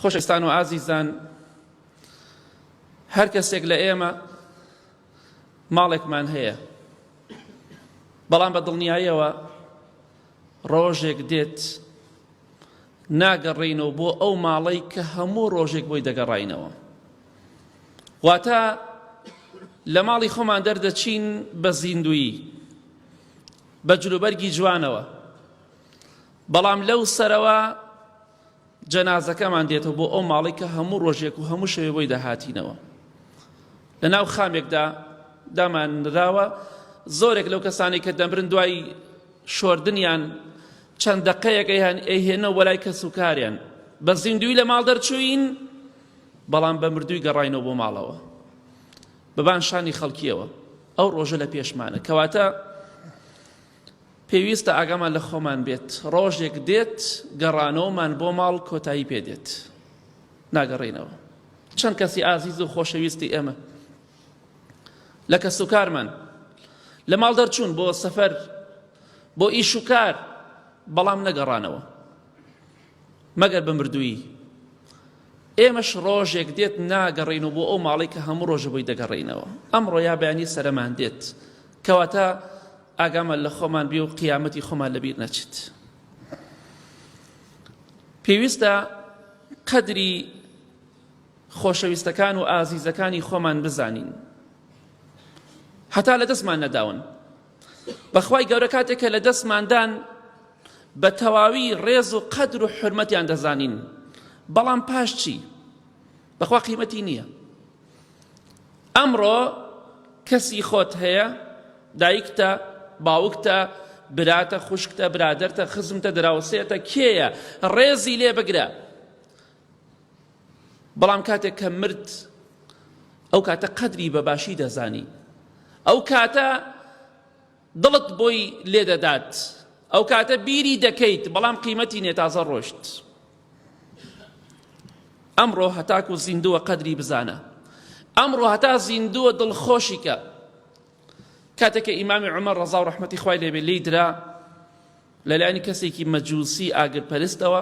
خۆشەستان و ئازیزان هەر کەسێک لە ئێمە ماڵێکمان هەیە بەڵام بە دڵنیایەوە ڕۆژێک دێت ناگەڕینەوە بۆ ئەو ماڵەی کە هەموو ڕۆژێک بۆی دەگەڕینەوە واتە لە ماڵی خۆمان دەردەچین بە زیندویی بە جلوبەرگی جوانەوە بەڵام لەو سەرەوە جەنازەکەمان دێتەوە بۆ ئەو ماڵی کە هەموو ڕۆژێک و هەموو شەوێ بۆی دەهاتینەوە لە ناو خامێکدا دامان نراوە زۆرێک لەو کەسانی کە دەمرن دوای شۆردنیان چەند دەقەیەکە هەن ئەهێنە وەلای کەس و کاریان بە زیندوی لە ماڵ دەرچوین بەڵام بە مردووی گەڕینەوە بۆ ماڵەوە بەبان شانی خەڵکیەوە ئەو ڕۆژە لە پێشمانە کەواتە پێویستە ئاگامان لە خۆمان بێت، ڕۆژێک دێت گەڕانەوەمان بۆ ماڵ کۆتایی پێ دێت، ناگەڕێینەوە. چەند کەسی ئازیز و خۆشەویستی ئێمە لە کەسوکارمان لە ماڵ دەرچوون بۆ سەفەر بۆ ئیش و کار بەڵام نەگەڕانەوە مەگەر بە مردوویی. ئێمەش ڕۆژێک دێت ناگەڕێینەوە بۆ ئەو ماڵەی کە هەموو ڕۆژە بۆی دەگەڕێینەوە. ئەمڕۆ یا بەیانی سەرەمان دێت. کەواتە ئاگامان لە خۆمان بێ و قیامەتی خۆمان لەبیر نەچێت. پێویستە قەدری خۆشەویستەکان و ئازیزەکانی خۆمان بزانین. هەتا لە دەستمان نەداون. بەخوای گەورە کاتێک کە لە دەستماندان بە تەواوی ڕێز و قەدر و حرمەتیان دەزانین بەڵام پاش چی بەخوا قیمەتی نییە ئەمڕۆ کەسی خۆت هەیە دایکتە باوکتە براتە خوشکتە برادەرتە خزمتە دراوسێتە کێیە ڕێزی لێ بگرە بەڵام کاتێک کە مرد ئەو کاتە قەدری بە باشی دەزانی ئەو کاتە دڵت بۆی لێ دەدات ئەو کاتە بیری دەکەیت بەڵام قیمەتی نێ تازە ڕۆشت ئەمڕۆ هەتاکو زیندووە قەدری بزانە ئەمڕۆ هەتا زیندووە دڵخۆشیکە کاتێککە ئیمامی عمە ڕزا و ڕحمەتی خی لێبێ لی درا لەلایانی کەسێکی مەجووسی ئاگرپەرستەوە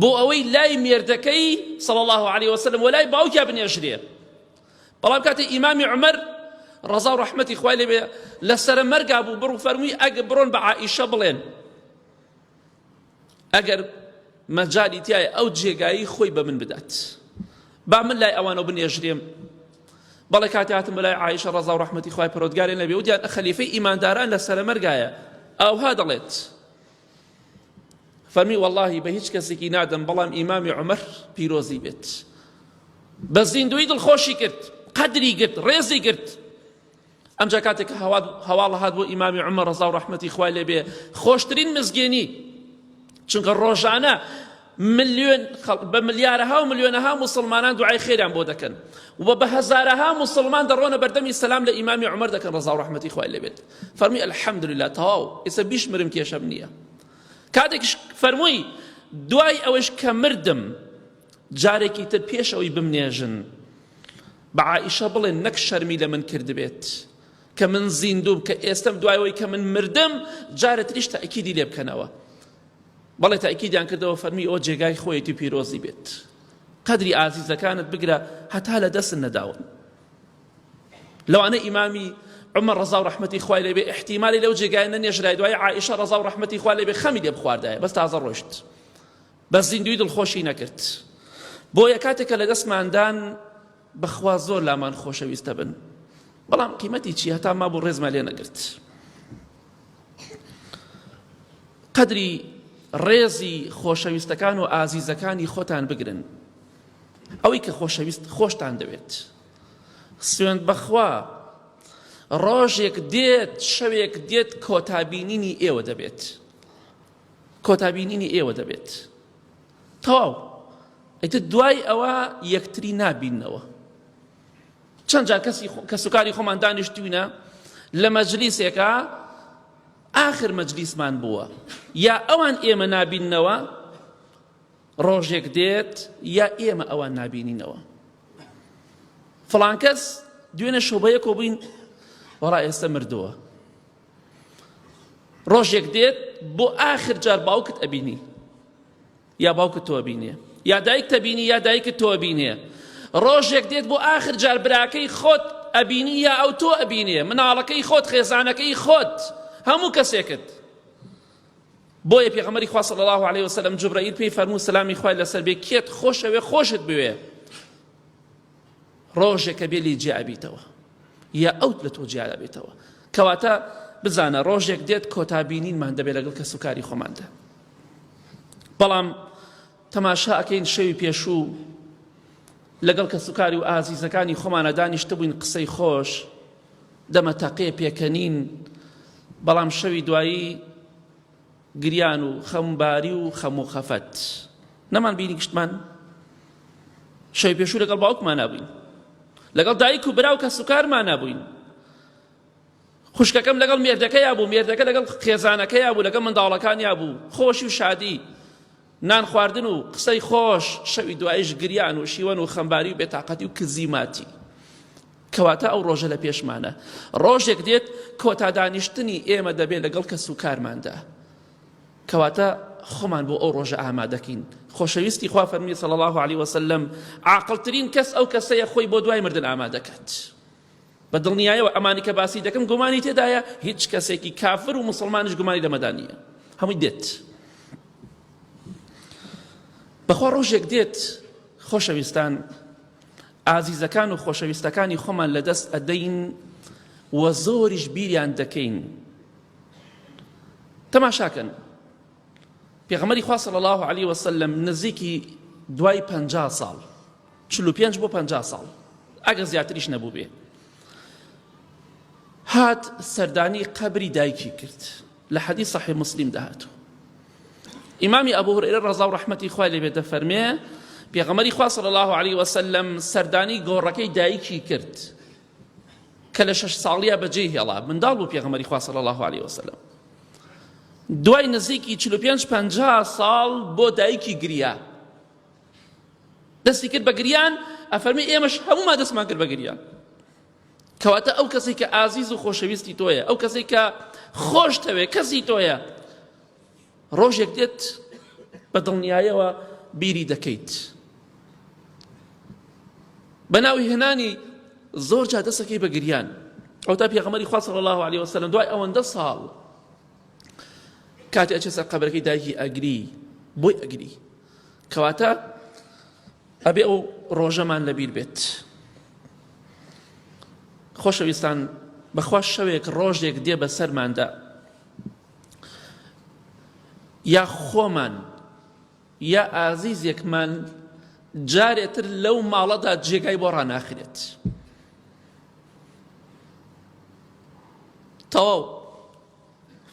بۆ ئەوەی لای مێردەکەی صلی الله علیه وسلم و لای باوکیا بنێژرێ بەڵام کاتێ ئیمامی عمر ڕەزا و ڕەحمەتی خوای لێ لە سرە مەرگا بوو بڕ فەرمووی ئەگە بڕۆن بە عائیشە بڵێن ئەگەر مەجالی تایە ئەو جێگایی خۆی بە من بدات با من لای ئەوانە بنێژرێم بەڵێ کاتی هاتم لای عیشە ڕزا و ڕحمەتی خخوای پرۆتگارێن لەبێ ودیان خەلیفەی ئیمانداران لە سەرمەرگایە ئەوها دەڵێت فەرمی واللهی بە هیچ کەسێکی نادەم بەڵام ئیمامی عمر پیرۆزی بێت بە زیندوی دڵخۆشی کرد قدری گرت ڕێزی گرت ئەمجا کاتێک هەواڵ هات بۆ ئیمامی عمە ڕزا و ڕحمەتی خوای لێبێ خۆشترین مزگێنی چونکە ڕۆژانە ملیۆن خەڵک بە ملیارەها و ملیۆنەها موسڵمانان دوعای خێریان بۆ دەکەن و بە هەزارەها موسڵمان دەڕۆنە بەردەمی سەلام لە ئیمامی عومەر دەکەن ڕەزا و ڕەحمەتی خوای لێ بێت فەرمی الحمدلله تەواو ئێستا بیش مرم کێشەم نییە کاتێکش فەرمووی دوای ئەوەش کە مردم جارێکی تر پێش ئەوی بمنێژن بە عائیشە بڵێن نەک شەرمی لە من کردبێت کە من زیندوم کە ئێستم دوایەوەی کە من مردم جارە تریش تاکیدی لێ بکەنەوە بەڵێ تەئکیدیان کردەوە فەرمی ئەوە جێگای خۆیەتی پیرۆزی بێت قەدری ئازیزەکانت بگرە هەتا لە دەستن نەداون لەوانە ئیمامی عمر ڕزا و ڕحمەتی خوای لێبێ احتیمالی لەو جێگای نەنێژرای دوای عائشە ڕزا و ڕحمەتی خوا لێبێ خەمی لێ بخواردایە بەس تازە ڕۆشت بەس زیندوی دڵخۆشی نەکرد بۆیە کاتێکە لە دەستماندان بەخوا زۆر لامان خۆشەویستەبن بەڵام قیمەتی چی هەتا مابوو ڕێزمان لێ نەگرت قەدری ڕێزی خۆشەویستەکان و ئازیزەکانی خۆتان بگرن ئەوەی کە خۆشەویست خۆشتان دەوێت سوێند بەخوا ڕۆژێک دێت شەوێک دێت کۆتابینینی ئێوە دەبێت کۆتا بینینی ئێوە دەبێت تەواو ئەیتر دوای ئەوە یەکتری نابینەوە چەند جار کەسی کەسوکاری خۆمان دانیشتوینە لە مەجلیسێکە ئاخر مەجلیسمان بووە یا ئەوان ئێمە نابینەوە ڕۆژێک دێت یا ئێمە ئەوان نابینینەوە فڵانکەس دوێنە شۆبەیەکۆ بووین وەڵا ئێستا مردووە ڕۆژێک دێت بۆ ئاخر جار باوکت ئەبینی یا باوکت تۆ بینێ یا دایک تەبینی یا دایکت تۆ بینێ ڕۆژێک دێت بۆ ئاخر جار براکەی خۆت ئەبینی یا ئەو تۆ ئەبینێ مناڵەکەی خۆت خێزانەکەی خۆت هەموو کەسێکت بۆیە پێغەمەری خوا صلی الله عليه وسلم جبرائیل پێی فەرموو سلامی خوای لەسەر بێ کێت خۆشەوێ خۆشت بوێ ڕۆژێکە بێ لێ جیا ئەبیتەوە یا ئەوت لە تۆ جیا ئەبێتەوە کەواتە بزانە ڕۆژێک دێت کۆتا بینینمان دەبێت لەگەڵ کەس و کاری خۆماندا بەڵام تەماشا ئەکەین شەوی پێشوو لەگەڵ کەس و کاری و ئازیزەکانی خۆمانە دانیشتە بووین قسەی خۆش دەمە تەقێ پێکەنین بەڵام شەوی دوایی گریان و خەمباری و خەم و خەفەت نەمان بینی گشتمان شەوی پێشوو لەگەڵ باوکمان نابووین لەگەڵ دایک و برا و کەس و کارمان نابووین خوشکەکەم لەگەڵ مێردەکەیا بوو مێردەکە لەگەڵ خێزانەکەیا بوو لەگەڵ منداڵەکانیا بوو خۆشی و شادی نان خواردن و قسەی خۆش، شەوی دوایش گریان و شیوەن و خەمباری و بێتاقەتی و کزی ماتی. کەواتە ئەو ڕۆژە لە پێشمانە. ڕۆژێک دێت کۆتا دانیشتنی ئێمە دەبێت لەگەڵ کەس و کارماندا. کەواتە خۆمان بۆ ئەو ڕۆژە ئامادەکەین. خۆشەویستی خوا فەرمی صلی الله علیه وسلم عاقڵترین کەس ئەو کەسەیە خۆی بۆ دوای مردن ئامادەکات. بە دڵنیایەوە ئەمانی کە باسی دەکەم گومانی تێدایە هیچ کەسێکی کافر و مسلمانش گومانی لەمەدا نییە هەمووی دێت بەخوا ڕۆژێک دێت خۆشەویستان ئازیزەکان و خۆشەویستەکانی خۆمان لە دەست ئەدەین و زۆریش بیریان دەکەین تەماشاکەن پێغەمەری خوا صلی الله عليه وسلم نزیکی دوای پەنجا ساڵ چل و پێنج بۆ پەنجا ساڵ ئەگەر زیاتریش نەبووبێ هات سەردانی قەبری دایکی کرد لە حەدی صحی مسلیم دەهاتوو ئیمامی ئەبوو هورێرە ڕەزا و ڕەحمەتی خوای لێ بێتە فەرمێ پێغەمەری خوا صلی الله علیه وسلم سەردانی گۆڕەکەی دایکی کرد کە لە شەش ساڵیە بەجێ هێڵا منداڵ بوو پێغەمەری خوا صلی الله علیه وسلم دوای نزیکی 45 50 ساڵ بۆ دایکی گریا دەستی کرد بە گریان ئەفەرمی ئێمەش هەمووما دەستمان کرد بە گریان کەواتە ئەو کەسی کە ئازیز و خۆشەویستی تۆیە ئەو کەسی کە خۆشتەوێ کەسی تۆیە ڕۆژێک دێت بە دڵنیایەوە بیری دەکەیت بە ناوی هێنانی زۆر جا دەسەکەی بە گریان ئەو تا پێغەمەری خوا صلی الله عليه وسلم دوای ئەوەندە ساڵ کاتی ئەچێ سەر قەبرەکەی دایکی ئەگری بۆی ئەگری کەواتە ئەبێ ئەو ڕۆژەمان لەبیر بێت خۆشەویستان بەخوا شەوێک ڕۆژێک دێ بە سەرماندا یا خۆمان یا ئازیزێکمان جارێتر لەو ماڵەدا جێگای بۆ ڕناخرێت تەواو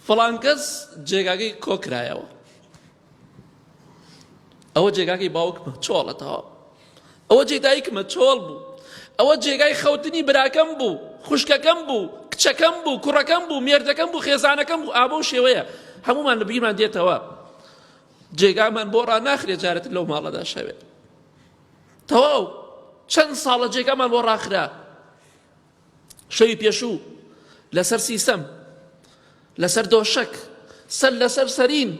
فڵانکەس جێگاگەی کۆکرایەوە ئەوە جێگاکەی باوکمە چۆڵە تەوا ئەوە جێ دایکمە چۆڵ بوو ئەوە جێگای خەوتنی براکەم بوو خوشکەکەم بوو کچەکەم بوو کوڕەکەم بوو مێردەکەم بوو خێزانەکەم بوو ئابە و شێوەیە هەمومان لە بگیرمان دێتەوە جێگامان بۆ ڕا ناخرێ جارێت لەو ماڵەدا شەوێت تەواو چەند ساڵە جێگامان بۆ ڕاخرا شەوی پێشوو لەسەر سیسەم لەسەر دۆشەک سەر لەسەر سەرین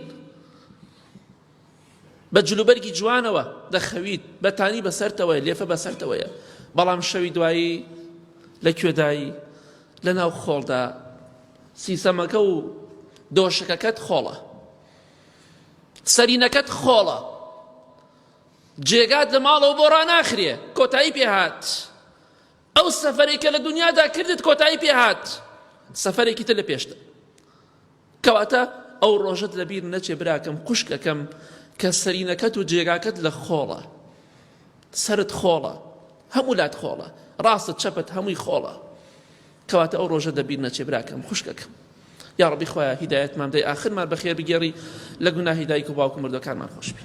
بە جلوبەرگی جوانەوە دەخەویت بەتانی بەسەرتەوەی لێفە بەسەرتەوەیە بەڵام شەوی دوایی لە کوێدایی لە ناو خۆڵدا سیسەمەکە و دۆشەکەکەت خۆڵە سەرینەکەت خۆڵە جێگات لە ماڵەوە بۆ ڕناخرێ کۆتایی پێهات ئەو سەفەرێک کە لە دنیادا کردت کۆتایی پێهات سەفەرێکی تر لە پێشتە کەواتە ئەو ڕۆژت لەبیر نەچێ براکەم خوشکەکەم کە سەرینەکەت و جێگاکەت لە خۆڵە سرت خۆڵە هەموو لات خۆڵە ڕاستت چەپت هەمووی خۆڵە کەواتە ئەو ڕۆژە دەبیر نەچێ براکەم خوشکەکەم یا ڕبی خۆیان هیدایەتمان دەی ئاخرمان بەخێر بگێڕی لە گوناهی دایک و باوکو مردەکانمان خۆشبی